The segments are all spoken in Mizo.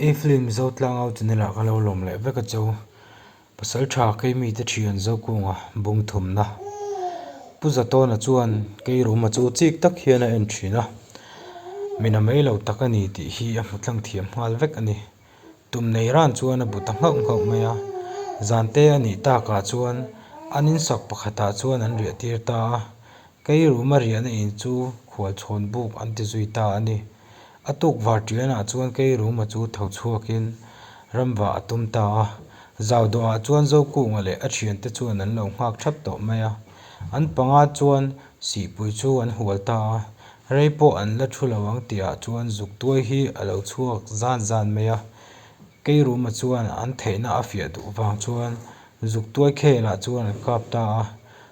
I film zotlang au channel ah ka lo lawm leh vek a cho. Pasal tha kei mi te thian zo kung a bung thum na. Pu Zatawna chuan kei rum a chu chik tak hian a en thin a. Mina mai lo tak a ni tih hi a hmu tlang thiam nghal vek a ni. Tum nei ran chuan a bu ta nghauh nghauh mai a. Zan te a nih tak ah chuan an in sak pakhat ah chuan an riah tir ta a. Kei rum a riah na in chu khual chhawn buk an ti zui ta a ni. A tuk var ṭianah chuan kei ruma chu tho chhuakin ramvah a tum ta a. Zau dawhah chuan Zokungah leh a ṭhiante chuan an lo nghak ṭhap tawh mai a. An panga chuan sihpui chu an hual ta a, rei pawh an la ṭhu lo ang tihah chuan zuktuai hi a lo chhuak zan zan mai a. Kei ruma chuan an theihna a fiah duh vang chuan Zuk tuai khel ah chuan an kap ta a,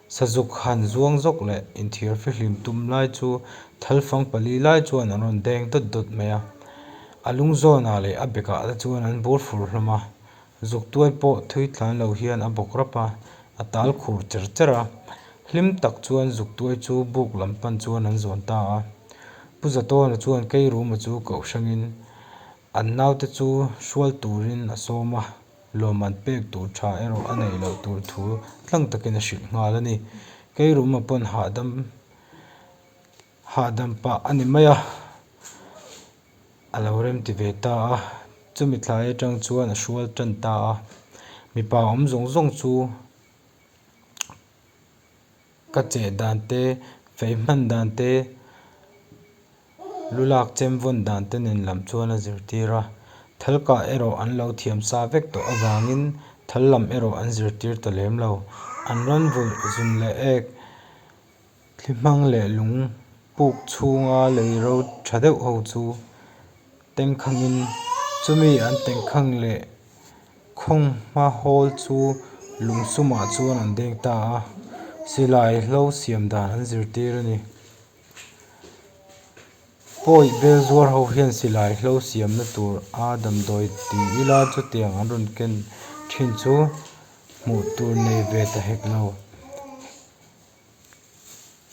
sazuk han zuang zawk leh inthir hri hlim tum lai chu thal fang pali lai chuan an rawn deng dawt dawt mai a, a lung zawn ah leh a bek ah te chuan an bur fur hlawm a, zuk tuai pawh thui tlan lo hian a bawk rap a, a tal khur cher cher a, hlim tak chuan zuk tuai chu buk lam pan chuan an zawn ta a, Pu Zatawna chuan kei ruma chu koh hrangin an nau te chu hrual turin a sawm a. lawm an pek tur tha erawh a nei loh tur thu tlang takin a hrilh nghal a ni. Kei ruma pawn hahdam hahdam pah a ni mai a, a lo rem ti ve ta a, chumi thlai atang chuan a hrual tan ta a, mipa awm zawng zawng chu Ka cheh dan te, feih hman dan te, lu lak chem vawn dan te nen lam chuan a zirtir a. Thal kah erawh an lo thiam sa vek tawh avangin thal lam erawh an zirtir ta lem lo. An rawn vulh zun leh ek, thli hmang leh lung puk chhunga lei ro tha deuh ho chu Tengkhangin chumi an tengkhang leh khawng hma hawl chu lung sumah chuan an deng ta a, silai hlo siam dan an zirtir a ni. Pawi Belzuar ho hian silai hlo siamna tur a damdawi ti ila chutiang an rawn ken thin chu hmuh tur nei ve ta hek lo.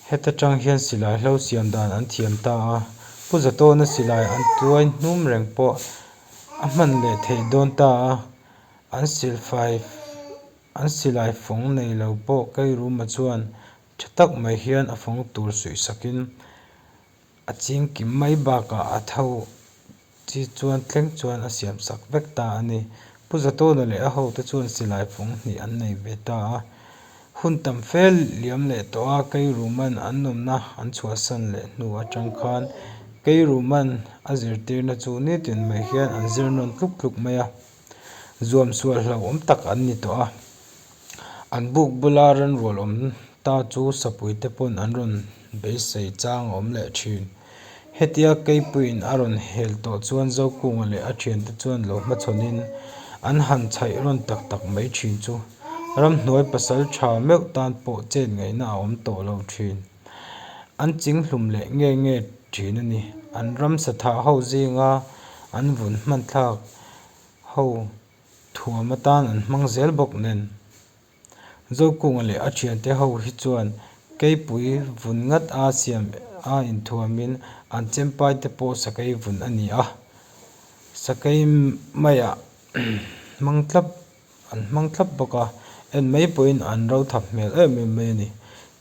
Heta tang hian silai hlo siam dan an thiam ta a, Pu Zatawna silai an tuai hnum reng pawh a hman leh theih dawn ta a, an silfai an silai fawng nei lo pawh Kairuma chuan tha tak mai hian a fawng tur suihsakin A ching kim mai bakah a tho chi chuan thleng chuan a siam sak vek ta a ni. Pu Zatawna leh a hote chuan silai phung hnih an nei ve ta a. Hun tam fel liam leh tawh a Keiruman an awmna an chhuahsan leh hnu atang khan Keiruman a zirtirna chu ni tiin mai hian an zir nawn tluk tluk mai a. zuamsual hlauhawm tak an ni tawh a, an buk bula rinrual awm ta chu sapui te pawn an rawn beisei chang awm leh thin. Hetia keipuiin a rawn hel tawh chuan Zokunga leh a thiante chuan lo hmachhawnin an han chhaih rawn tak tak mai thin chu. Ramhnuai pasal tha meuh tan pawh chet ngaihna a awm tawh lo thin. an ching hlum leh ngei ngei thin a ni. An ramsa thah ho zinga an vun hmanthlak ho thuam atan an hmang zel bawk nen. Zokunga leh a thiante ho hi chuan keipui vun ngat a siam a inthuamin an chempaite pawh sakei vun a ni a, sakei maiah hmang tlap An hmang thlap bawk a, en mai pawhin an ro thap hmel em em mai a ni.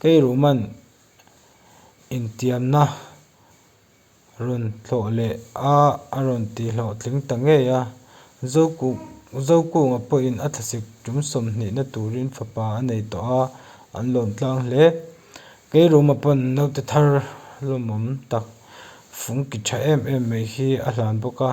Keiruhman intiamna rawn hlawh leh a, a rawn tihhlawh tling ta ngei a. Zokuk, Zokunga pawhin a thlasik tum sawmhnihna turin fapa a nei tawh a, an lawm tlang hle. Keiruhma pawn naute thar lawmawm tak fung ki tha em em mai hi a hlan bawk a.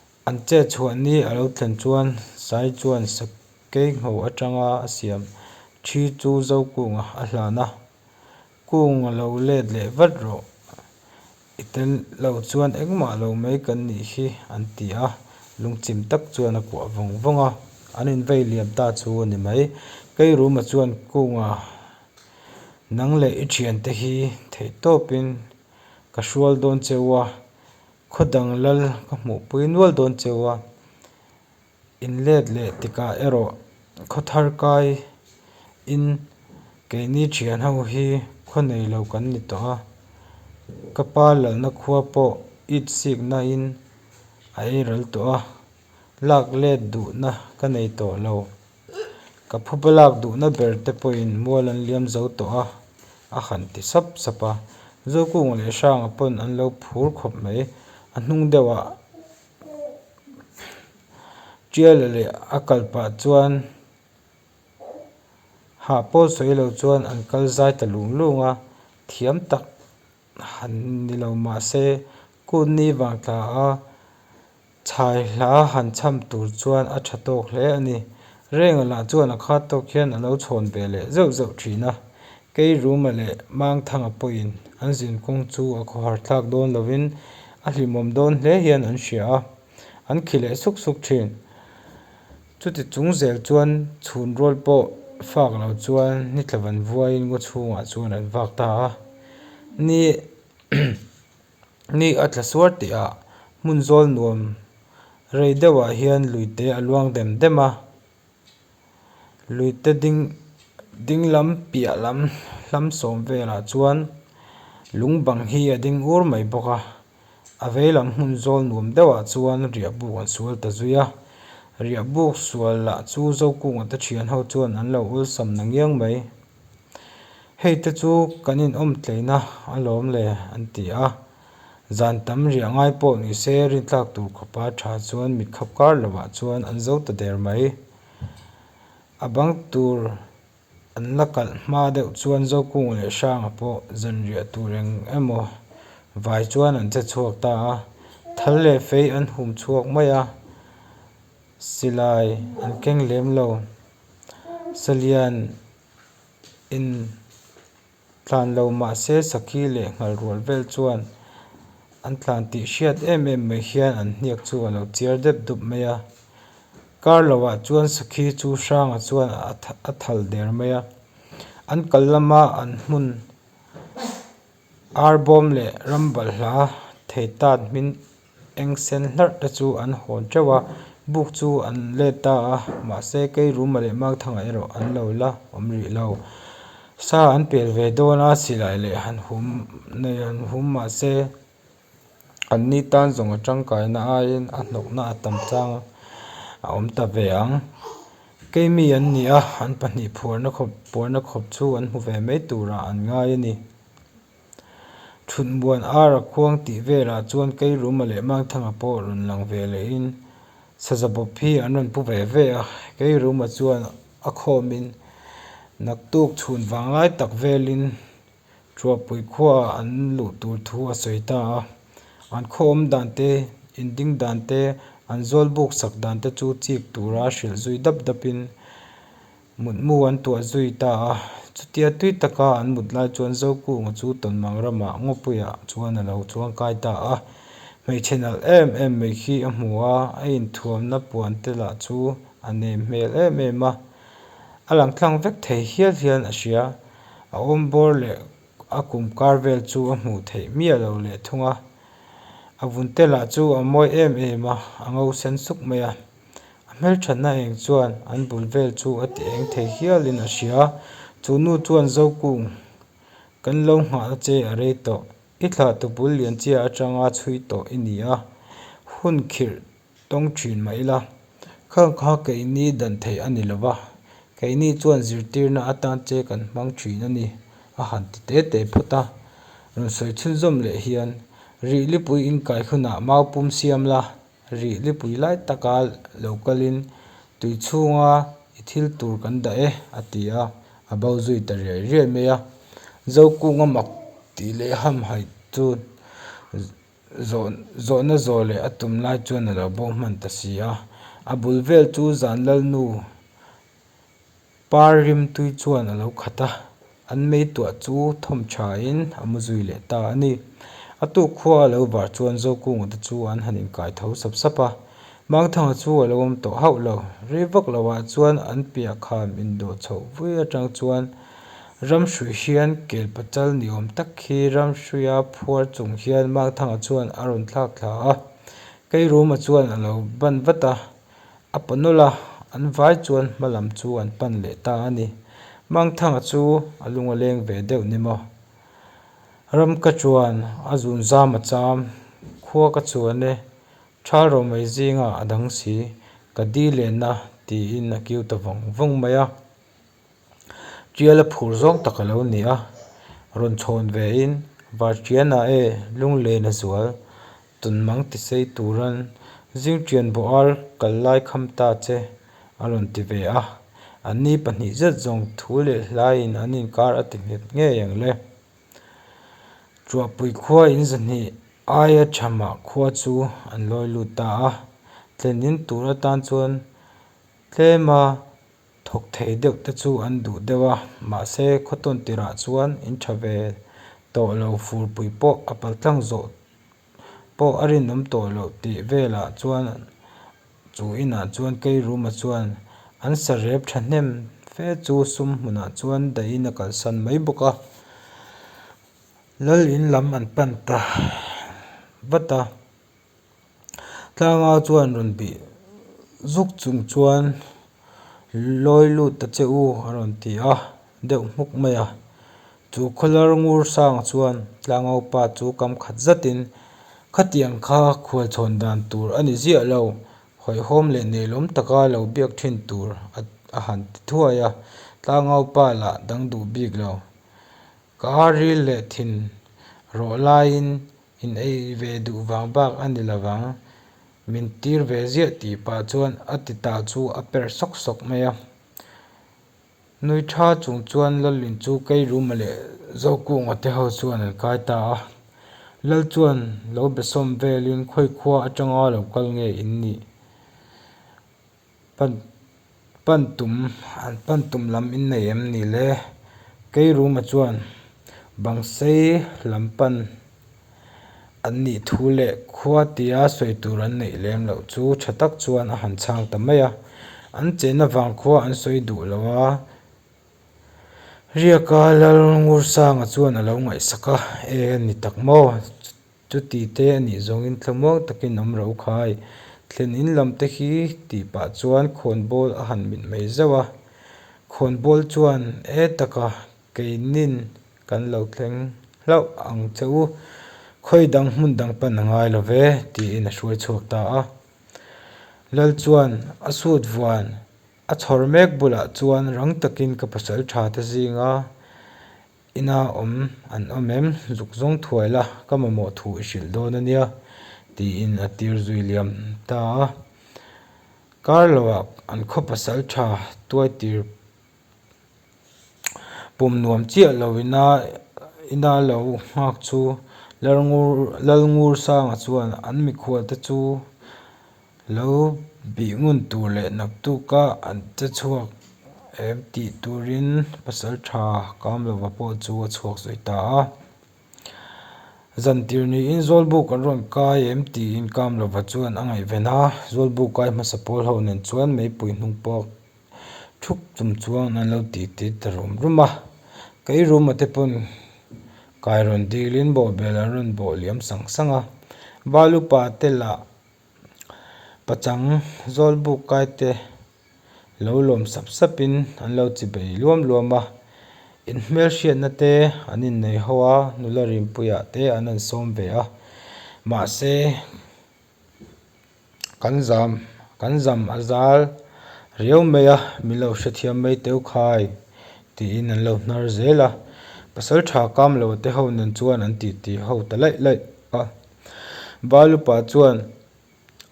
An che chhuah ni a lo thlen chuan Sai chuan sakei ngho atanga a siam ṭhi chu Zokûnga a hlan a, Kûng a lo let leh vat rawh, i tel lo chuan engmah lo mai kan nih hi an ti a, lungchim tak chuan a kuah vawng vawng a, an inveilim ta chu a ni mai. Keiruma chuan Kûnga nang leh i ṭhiante hi theihtawpin ka hrual dawn che u a, Khaw dang lal ka hmuh pui nual dawn cheu a, in let leh tikah erawh khaw thar kai in keini thian ho hi khaw nei lo kan ni tawh a, ka pa lalna khua pawh it sikna in a ei ral tawh a. lak let duhna ka nei tawh lo. Ka phupa lak duhna ber te pawhin mual an liam zo tawh a, a han ti sap sap a. Zokung leh Hranga pawn an lo phur khawp mai. A hnung deuhah Ṭial leh a kalpah chuan hah pawl sawi lo chuan an kal zai ta lung lung a, thiam tak han ni lo mahse, Kut ni vang tla a. Chhai hla han chham tur chuan a tha tawk hle a ni. Renga lah chuan a khat tawk hian a lo chhawn ve leh zeuh zeuh thin a. Kei Ruma leh Mang Thanga pawhin an zin kawng chu a khawharthlak dawn lovin a hlimawm dawn hle hian an hria a. An khi leh suk suk thin. Chuti chung zel chuan chhunrawl pawh fak lo chuan ni thlavan vuaiin ngaw chhungah chuan an vak ta a ni. Ni a tla suar teh a, hmun zawl nuam rei deuhah hian luite a luang dem dem a. Luite ding dinglam piah lam hlam sawm velah chuan lung bang hi a ding ur mai bawk a. A vei lam hmun zawl nuam deuhah chuan riahbuk an sual ta zui a. Riahbuk sual lah chu zokung ata thian ho chuan an lo awlsam na ngiang mai. Hei te chu kan inawm tleina a lawm le an ti a, zan tam riah ngai pawh ni se rinthlak tur khawpa tha chuan mit khap kar lo ah chuan an zo ta der mai. A bang tur an la kalh hma deuh chuan Zokung leh Hranga pawh zanriah tur eng emaw vai chuan an che chhuak ta a, thal leh fei an hum chhuak mai a, silai an keng lem lo. Salian in tlan lo mahse sakhi leh nghalrual vel chuan an tlan tih hriat em em mai hian an hniak chu a lo chiar dep dup mai a. Kar lo ah chuan sakhi chu hrang ah chuan a thal der mai a. An kal lam a an hmun ar bawm leh ram balh hla thei tan hmin. Eng sen hlarh te chu an hawn teuh a, buk chu an let ta a, mahse kei ruma leh makthanga erawh an lo la awm rih lo. Sa an pel ve dawn a, silai leh han hum nei han hum mahse an ni tan zawnga tangkaina aiin a hnawkna a tam chang a, a awm ta ve ang. Kei mi an ni a, an pahnih phuarna khawp puarna khawp chu an hmu ve mai turah an ngai a ni. Thutbuan ara khuang tih velah chuan keiruma leh mangthanga pawh rawn lang ve lehin saza bawp hi an rawn pu ve ve a. Keiruma chuan a khawmin naktuk chhun vang lai tak velin Hruapui khuaah an luh tur thu a sawi ta a. An khawawm dan te, inding dan te, an zawlbuk sak dan te chu chik tura hrilh zui dap dapin Mutmu an tuah zui ta a, chutia tui taka an mut lai chuan Zokunga chu Tawnmang rama Ngawpuia chuan a lo chuang kai ta a. Hmeichhe nalh em em mai khi a hmu a, a inthuamna puan te lah chu a nem hmel em em a. A lang tlang vek thei hial hialin a hria. A awm bawr leh a kum kar vel chu a hmuh theih miah lo leh thung a. A vun te lah chu a mawi em em a, a ngo sen suk mai a. A hmelthatna heng chuan an bul vel chu a ti eng thei hial in a hria. Chu nu chuan Zokung, kan lo nghah na che a rei tawh. I thlah tupul lian chiah atanga chhui tawh i nia, hun khirh tawng thin mah ila. Khang kha keini dan theih a ni lo va, keini chuan zirtirna atan che kan hmang thin a ni, a han ti te te phawt a. Rawn sawi chhunzawm leh hian, Rihlipui inkai hunah mau pum siam la. Rih lipui lai taka lo kalin, Tui chhunga i thil tur kan dah e, a ti a, a bo zui ta riai riai mai a. Zokung a mak tih leh hamhai chu zawhna zawh leh a tum lai chuan a lo bo hman ta si a. A bul vel chu zan lalnu Par Rimtui chuan a lo khat a, an meituah chu thawm tha in a mu zui leh ta a ni. A tu khua a lo var chuan Zokung te chu an han inkai tho sap sap a, Mangthanga chu a lo awm tawh hauh lo. Rei vak lo ah chuan an piah kham in dawh chhoh vui a tang chuan Ramhruih hian kel pachal ni awm tak khi Ramhruih a phuar chung hian Mangthanga chuan a rawn thlak thla a, Keirum a chuan a lo ban vat a, A paw nawlh a, an vai chuan hma lam chu an pan leh ta a ni. Mangthanga chu a lung a leng ve deuh ni maw? Ramka chuan a zun zam a cham, Khua ka chuan e, ṭhal ro mai zinga a dang si, ka di len a, tiin a kiu ta vawng vawng mai a. Tial a phur zawng tak a lo ni a, rawn chhawn ve in var tiana e lung len a zual tun mang ti sei turan zing tian bo ar kal lai kham ta che a rawn ti ve a, an ni pahnih zet zawng thu leh hlai in an in kar a ti nghet ngei ang le. Chuahpui khua in zahnih ai a tha mah khua chu an lawi lut ta a, tlen in tur atan chuan tlem a. Thawk theih deuh te chu an duh deuh a, mahse khawtawn tirah chuan in tha ve tawh lo furpui pawh a pal tlang zawh pawh a rinawm tawh lo tih velah chuan chu inah chuan keiruma chuan an sarep thahnem fe chu sum hmunah chuan dahin a kalsan mai bawk a, Lal in lam an pan ta vat a. Tlanga chuan rawn bih zuk chung chuan lawi lut ta che u a rawn ti a, deuh hmuk mai a. Chu khawl ngur sanga chuan Tlangho pa chu kam khat zat in, Khatiang kha khual chhawn dan tur a ni ziah lo, hawihhawm leh neilawm taka lo biak thin tur a han ti thuai a, Tlangho pa lah dang duh bik lo. Ka ril leh thin rawh laiin In ei ve duh vang bak a ni lo vang, min tir ve ziah tih pah chuan a ti ta chu a per sawk sawk mai a. Nui tha chung chuan Lalin chu keiruma leh Zokungah te ho chuan an kai ta a. Lal chuan lo besawm velin khawikhua atanga lo kal nge in nih? Pan pan tum an pan tum lam in nei em ni le? Kei room-a chuan bang sei lam pan an nih thu leh khua tia sawi tur an neih lem loh chu tha tak chuan a han chhang ta mai a, an chenna vang khua an sawi duh lo a, Riaka Lalngursanga chuan a lo ngaihsak a, E ni tak maw? Chuti te a nih zawngin thlamuang takin awm rau khai. Thlen in lam te hi tih pah chuan Khawnbawl a han mit mai zauh a. Khawnbawl chuan, E taka, keinin kan lo thleng hlauh ang che u, khawi dang hmun dang pan a ngai lo ve, tiin a hruai chhuak ta a. Lal chuan a suit vuan a chhawr mek bulah chuan rang takin ka pasalṭha ta zing a, Ina awm an awm em, zuk zawng thuai la, ka mamawh thu i hrilh dawn a nia, tiin a tir zui liam ta a. Carlo-a an khaw pasal tha tuai tir pum nuam chiah lo ina Ina lo nghak chu Lalngur Lalngursanga chuan an mikhualte chu Lo bih ngun tur leh naktuk a an che chhuak em tih turin pasal tha kam lova pawh chu a chhuak sawi ta a. Zantir niin Zawlbuk an rawn kai em tiin kam lova chuan a ngaihven a, Zawlbuk kai hmasa pawl ho nen chuan meipui hnung pawh thuk tum chuang an lo ti tir ta rum rum a. Keiruma te paw'n kai rawn dilin bawhbel an rawn bawh liam sang sang a. Balupa te lah Pachang zawlbuk kaite lo lawm sap sap in an lo chi bei luam luam a, in hmelhriatna te an in nei ho a, nula rimpuia te an rawn sawm ve a, mahse kan zam kan zam a zal riau mai a min lo hrethiam mai teuh khai tiin an lo hnar zel a, pasaltha kamlo te ho nen chuan an titih ho ta laih laih a. Balupa chuan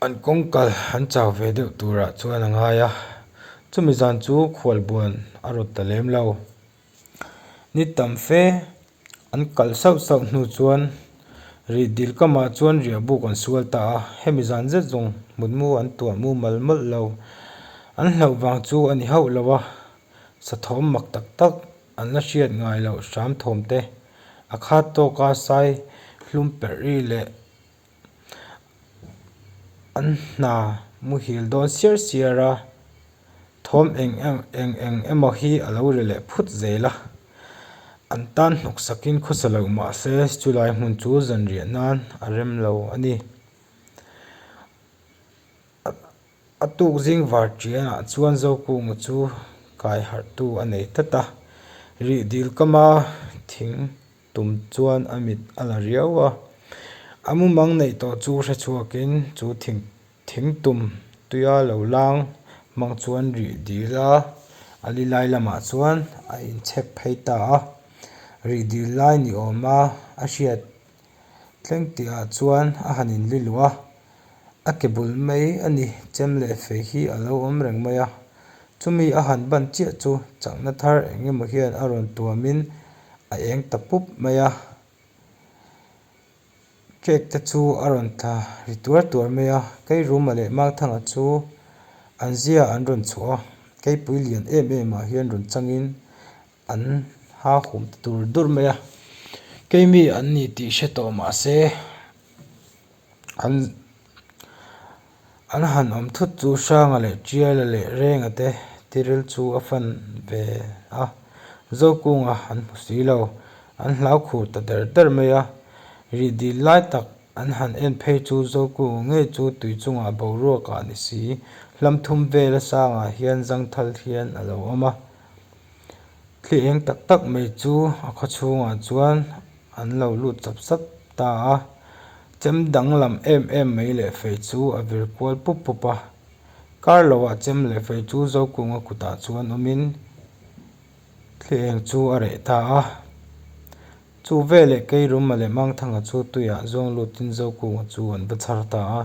an kawngkal an chau ve deuh turah chuan a ngai a, chumi zan chu khualbuan a raw ta lem lo. Ni tam fe an kalh sauh sauh hnu chuan rih dil kamah chuan riahbuk an sual ta a, hemi zan zet zawng hmutmu an tuah mumal mawlh lo. An hlauh vang chu a ni hauh lo a, sa thawm mak tak tak. An la hriat ngai lo hramthawm te, a khat tawk a sai hlum perh ri leh an hna muhil dawn siar siar a, thawm eng eng eng emaw hi a lo ri leh phut zel a. An tan hnawk sak in khawsa loh mah se chu lai hmun chu zan riah nan a rem lo a ni. A tuk zing var ṭianah chuan Zopu mu chu kai harhtu a nei tlat a, rih dil kama thing tum chuan a mit a la riau a. A mu mang neih tawh chu hre chhuakin chu thing thing tum tuia lo lang hmang chuan rih dil a, a li lai lamah chuan a inchhek phei ta a, rih dil lai ni awma a hriat. Tleng tih ah chuan a han in li luh a, a ke bul mai a ni, chem leh fei hi a lo awm reng mai a, chumi a han ban chiah chu chakna thar eng emaw hian a rawn tuam in a eng ta pup mai a, cake te chu a rawn tla ri tuar tuar mai a, keiruma leh mangthanga chu an zia an rawn chhuah a, keipui lian em em ah hian rawn chang in An hahum ta tur dur mai a, keimi an ni tih hre tawh mah se an an han awm thut chu Hranga leh Tiala leh Renga te thiril chu a fan ve a, Zokûnga an hmu si lo, an hlaukhur ta der der mai a, rih dil lai tak an han en phei chu Zokûnga ngei chu tui chungah boruaka ni si, hlamthum vela sangah hian zangthal hian a lo awm a. thli eng tak tak mai chu a khaw chhungah chuan an lo lut sap sap ta a chem dang lam em em mai leh fei chu a vir kual pup pup a kar lo ah chem leh fei chu zokung a kut ah chuan awm in thli eng chu a reh ta a chu veleh keirum mah leh mangthang ah chu tui ah zawng lut in zokung ah chu an va chhar ta a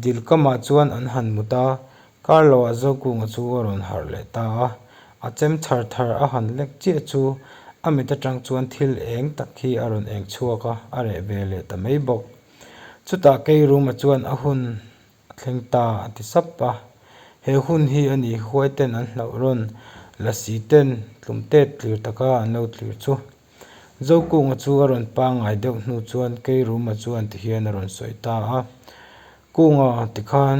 dil kam ah chuan an han mut a. Carlo a zaukûnga chu a rawn harh leh ta a, a chem chhar thar a han lek chiah chu a mit aṭang chuan thil êng tak hi a rawn êng chhuak a, a reh ve leh ta mai bawk. Chutah keirûma chuan a hun a thleng ta a ti sap a, he hun hi a nih hi huaiten an hlauh rawn, Lassie-ten tlum têt tlir taka an lo tlir chu. Zaukûnga chu a rawn pângai deuh hnu chuan keirûma chuan ti hian a rawn sawi ta a, Kûnga tikhan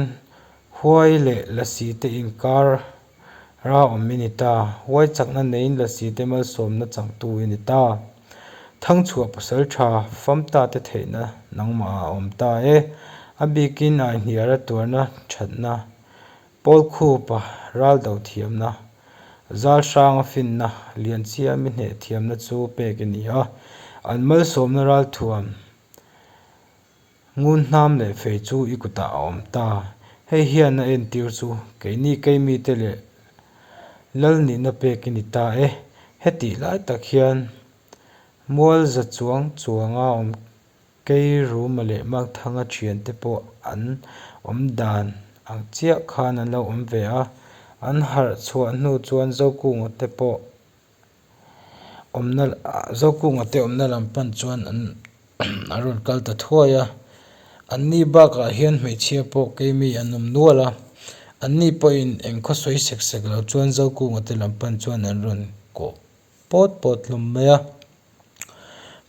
Huai leh la si te inkar ra awm i ni ta, huai chakna neiin la si te malsawmna changtu i ni ta. Thangchhuah pasal tha famta te theihna nangmah a awm ta e, a bikin aihniar a tuarna thatna, Pawl khupa ral doh thiamna, zal hranga finna, lianchhia mi hneh thiamna chu pek i ni a, an malsawmna ral thuam Ngun hnam leh fei chu i kutah a awm ta. Hei hian a entir chu keini keimi te leh lal nihna pek i ni ta e. Hetih lai tak hian mual za chuang chuanga awm kei ruma leh makthanga thian te pawh an awm dan ang chiah khan an lo awm ve a. An harh chhuah hnu chuan zokung te pawh awmna zaukung ate awmna lam pan chuan an a rawn kal ta thuai a an ni bakah hian hmeichhia pawh keimi an awm nual a an ni pawhin eng khawsawi sek sek lo chuan zaukung ate lam pan chuan an rawn kawh pawt pawt hlawm mai a.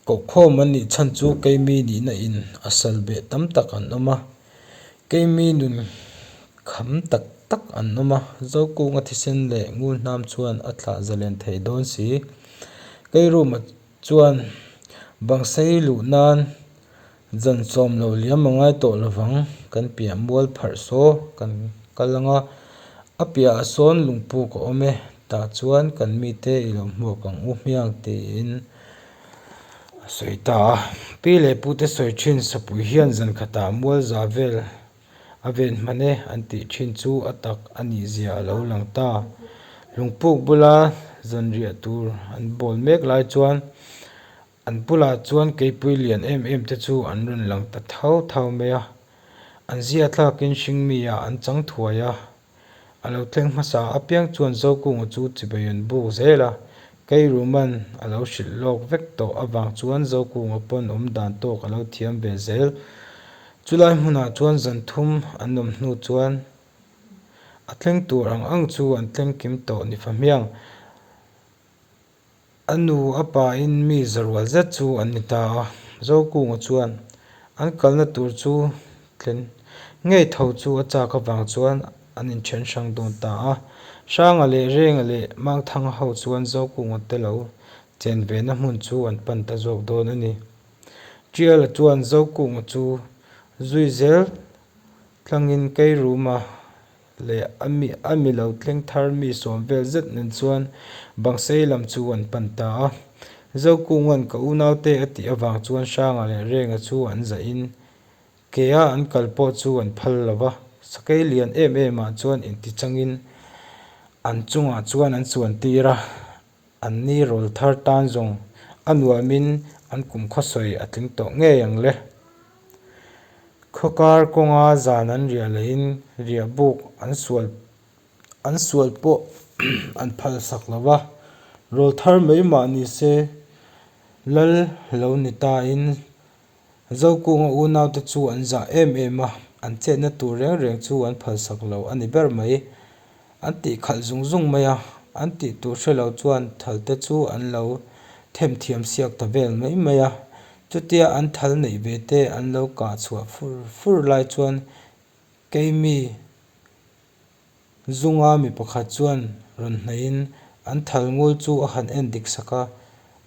Kohkhawm an nih chhan chu keimi nihna in a sal beh tam tak an awm a, keimi nun kham tak tak an awm a, Zokunga thisen leh ngun hnam chuan a thlah zalen thei dawn si. Keirum ah chuan bang sei luh nan. Zawn sawm lo liam a ngai tawh lovang, kan piah mual pharh saw kan kal ang a, a piahah sawn lungpuk a awm e, tah chuan kan mite i lo hmuak ang u hmiang tiin a sawi ta a. Pi leh pute sawi thin Sapuii hian zan khatah mual za vel a ven hman e an tih thin chu a tak a nih zia a lo lang ta. Lungpuk bula zan riah tur an bawl mek lai chuan An bulah chuan keipui lian em em te chu an rawn lang ta thau thau mai a, an zia thlakin hring miah an chang thuai a, a lo thleng hmasa apiang chuan Zokunga chu chibai an buk zel a, Keiruman a lo hrilh lawk vek tawh avang chuan Zokunga pawn awm dan tawk a lo thiam ve zel, chulai hmunah chuan zan thum an awm hnu chuan a thleng tur ang ang chu an thleng kim tawh ni fa hmiang. A nu a pa in mi zarual zet chu an ni ta a, Zokung-a chuan an kalna tur chu thlen ngei tho chu a chak avang chuan an inthen hrang dawn ta a. Hranga leh Renga leh Mangthanga ho chuan Zokung-a te lo chen ve na hmun chu an pan ta zawk dawn a ni. Tial-a chuan Zokung-a chu zui zel tlangin kei ruma leh a mi lo tleng thar mi sawm vel zet nen chuan bang sei lam chu an pan ta a, Zokunga'n ka unaute a tih avang chuan Hranga leh Renga chu an zah in keia an kal pawh chu an phal lo va, sakei lian em emah chuan inti changin an chungah chuan an chuan tir a, An ni rawl thar tan zawng a nuamin an kum khawsawi a tling tawh ngei ang le. Khawkar kawnga zan an riah lohin riahbuk an sual an sual pawh an phalsak lo va, rawl thar mai mah ni se lal lo ni tain Zokunga unaute chu an zah em em a, an chenna tur reng reng chu an phalsak lo a ni ber mai. An tih khalh zung zung mai a, an tih tur hre lo chuan thalte chu an lo them thiam siak ta vel mai mai a. Chutia an thal neih ve te an lo kah chhuah fur fur lai chuan keimi Zunga mi pakhat chuan rawn hnaihin, An thal ngul chu a han en dik sak a,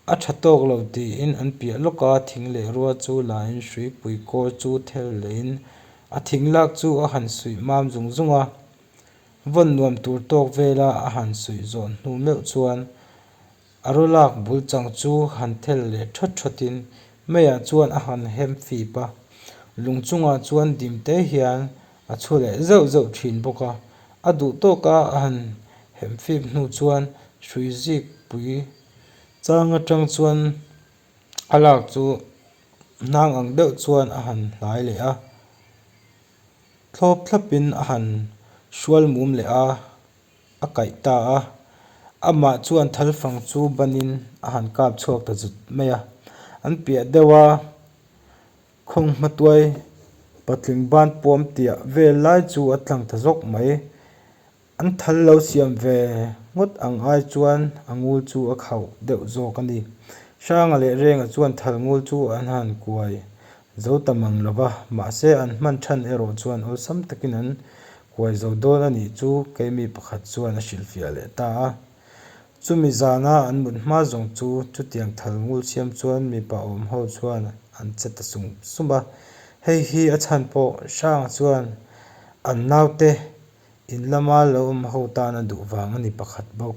a tha tawk lo tiin an piah lawk a, thing leh rua chu lain Hruipui kawr chu thel leiin a thing lak chu a han suih mam zung zung a, vawn nuam tur tawk vela a han suih zawh hnu meuh chuan A ru lak bul chang chu han thel leh thawt thawtin Mei-a chuan a han hem fip a. Lung chungah chuan Dimte hian a chhu leh zeuh zeuh thin bawk a. A duh tawk a a han hem fip hnu chuan hrui zik pui chang atang chuan a lak chu hnang ang deuh chuan a han hlai leh a. Thlawp thlapin a han hrual mum leh a. a kaih ta a, amah chuan thalfang chu banin a han kap chhuak ta zut mai a, an piah deuh a, khawnge hmatuai patling ban puam tih vel lai chu a tlang ta zawk mai, an thal lo siam ve ngawt ang ai chuan a ngul chu a khauh deuh zawk a ni, Hranga leh Renga chuan thal ngul chu an han kuai Zo ta mang lo va, mahse an hman than erawh chuan awlsam takin an kuai zo dawn a nih chu kei mi pakhat chuan a hrilhfiah leh ta a. Chumi zana an mut hma zawng chu chutiang thal ngul siam chuan mipa awm ho chuan an che ta sum sum a, hei hi a chhan pawh Hranga chuan an naute in lama lo awm ho tana duh vang a ni pakhat bawk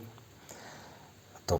a tawp.